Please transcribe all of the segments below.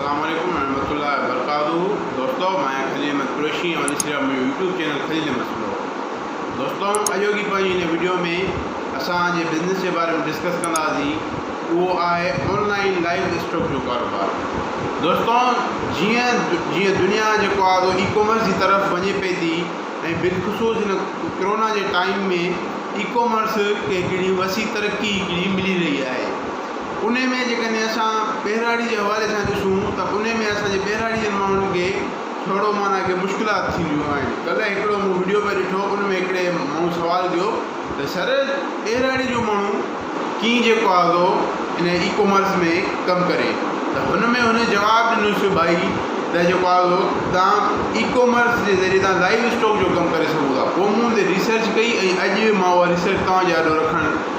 السلام عليڪم ورحمة الله وبرڪاته دوستو مان آهيان خليل احمد قريشي ۽ وليد سرياب منهنجو يوٽيوب چينل خليل احمد سنڌو دوستو اڄوڪي پنهنجي هن وڊيو ۾ اسان جي بزنس جي باري ۾ ڊسڪس ڪنداسين اهو آهي آنلائن لائيو اسٽاڪ جو ڪاروبار دوستو جيئن جيئن دنيا جيڪو آهي سو اي ڪامرس جي طرف وڃي پئي ٿي ۽ بالخصوص هن ڪرونا جي ٽائيم ۾ اي ڪامرس کي هڪڙي وسيع ترقي هڪڙي ملي رهي آهي انهي ۾ جيڪڏهن اسان ٻهراڙي جي حوالي سان ڏسون ته انهي ۾ اسان جي ٻهراڙي جن ماڻهن کي ٿورو معنيٰ ڪي مشڪلات ٿينديون آهن ڪلهه هڪڙو مون وڊيو پي ڏٺو ان ۾ هڪڙي ماڻهو سوال ڪيو ته سر ٻهراڙي جو ماڻهو ڪين جيڪو آ سو ان اي ڪامرس ۾ ڪم ڪري ته هن ۾ هن جواب ڏنوس ڀائي ته جيڪو آ سو تان اي ڪامرس جي ذريعي تان لائيو اسٽاڪ جو ڪم ڪري سگهو ٿا پوء مون تي ريسرچ ڪئي ۽ اڄ مان اها ريسرچ توهان جي آڏو رکڻ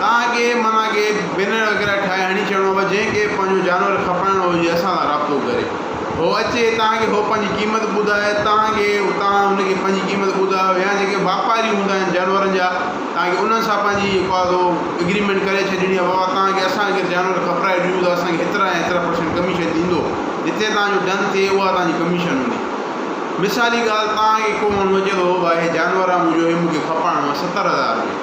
تان اڳي معنيٰ ڪي بينر وغيره ٺاهي هڻي ڇڏڻو پوي جنهن کي پنهنجو جانور کپرائڻو هجي اسان سان رابطو ڪري هو اچي تان کي هو پنهنجي قيمت ٻڌائي تان کي توهان هن کي پنهنجي قيمت ٻڌايو يا جيڪي واپاري هوندا آهن جانورن جا تان کي انهن سان پنهنجي جيڪو آهي سو اگريمينٽ ڪري ڇڏڻي آهي بابا تان کي اسان اگر جانور کپرائي ڏيون ته اسان کي هيترا يا هيترا پرسنٽ ڪميشن ڏيندو جتي تان جو ڊن ٿئي اها تان جي ڪميشن هوندي مثالي ڳالهه تان کي ڪو ماڻهو اچي ٿو بابا هي جانور آهي منهنجو هي مون کي کپرائڻو آهي ستر هزار ۾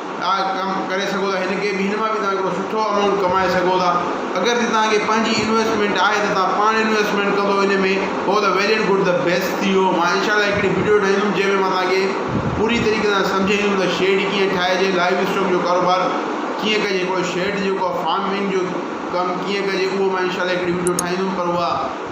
آء ڪم ڪري سگهو ٿا هن کي به هن مان به توهان هڪڙو سٺو امائونٽ ڪمائي سگهو ٿا اگر جي توهان کي پنهنجي انويسٽمينٽ آهي ته توهان پاڻ انويسٽمينٽ ڪندو ان ۾ هو ته ويل اينڊ گڊ ته بيسٽ ٿي ويو مان انشاء الله هڪڙي ويڊيو ٺاهيندم جنهن ۾ مان توهان کي پوري طريقي سان سمجهائيندم ته شيڊ ڪيئن ٺاهجي لائيو اسٽاڪ جو ڪاروبار ڪيئن ڪجي هڪڙو شيڊ جيڪو آهي فارمنگ جو ڪم ڪيئن ڪجي اهو مان انشاء الله هڪڙي ويڊيو ٺاهيندم پر اها